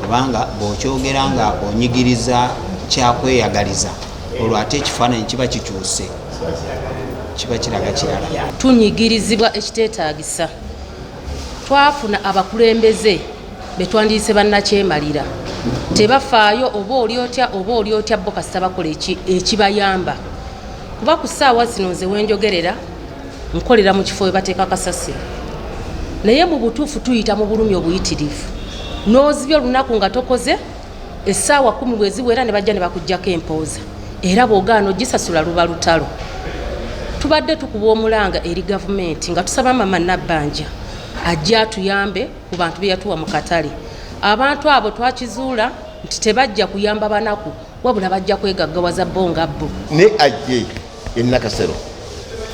kubanga bw'okyogera nga onyigiriza kyakweyagaliza olwo ate ekifaananyi kiba kikyuse kiba kiraga kirala tunyigirizibwa ekiteetaagisa twafuna abakulembeze be twandiyise bannakyemalira tebafaayo oba oli otya oba oli otya bo kasita bakola ekibayamba kuba ku ssaawa zino nze wenjogerera nkolera mu kifo we bateeka kasasiro naye mu butuufu tuyita mu bulumi obuyitirivu n'ozibya olunaku nga tokoze essaawa kumi bwe ziwera ne bajja ne bakugjako empooza era bw'ogaana ogisasula luba lutalo tubadde tukuba omulanga eri gavumenti nga tusaba mama nabbanja ajja atuyambe ku bantu be yatuwa mu katale abantu abo twakizuula nti tebajja kuyamba banaku wabula bajja kwegaggawaza bo nga bo ne ajje enakasero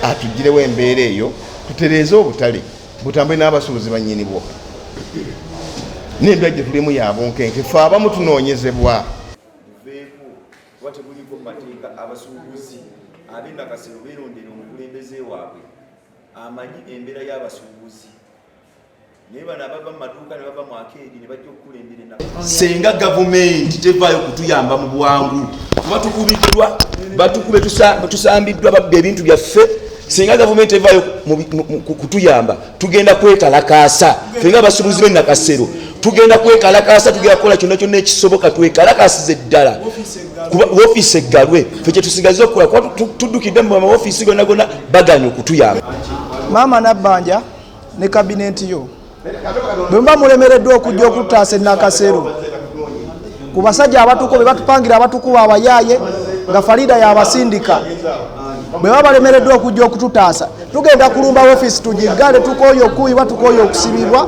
atugirewo embeera eyo tutereeze obutale butambule n'abasuubuzi bannyini bwo n'endwa gye tulimu yabunkenke fe abamu tunoonyezebwa teguliko mateeka abasuubuzi ab'enakasero beerondera omukulembeze waabwe amanyi embeera y'abasuubuzi senga gavumenti tevaayo kutuyamba mu bwangu kuba tukubiddwa batukube tusambiddwa babba ebintu byaffe senga gavumenti tevaayo kutuyamba tugenda kwekalakaasa fenga abasubuzi benakasero tugenda kwekalakaasa tugenda kukola kyonna kyonna ekisoboka twekalakasize ddala wofiisi eggalwe fe kyetusigaza okukola kuba tuddukidde mu mawofisi gonna gonna baganya okutuyamba maama nabbanja ne kabinenti yo bwe muba mulemereddwa okujja okutaasa enakaseero ku basajja abatuku be batupangira abatukuba abayaaye nga farida yabasindika bwe baba balemereddwa okujja okututaasa tugenda kulumba ofiisi tugiggale tukooye okukuibwa tukooye okusibibwa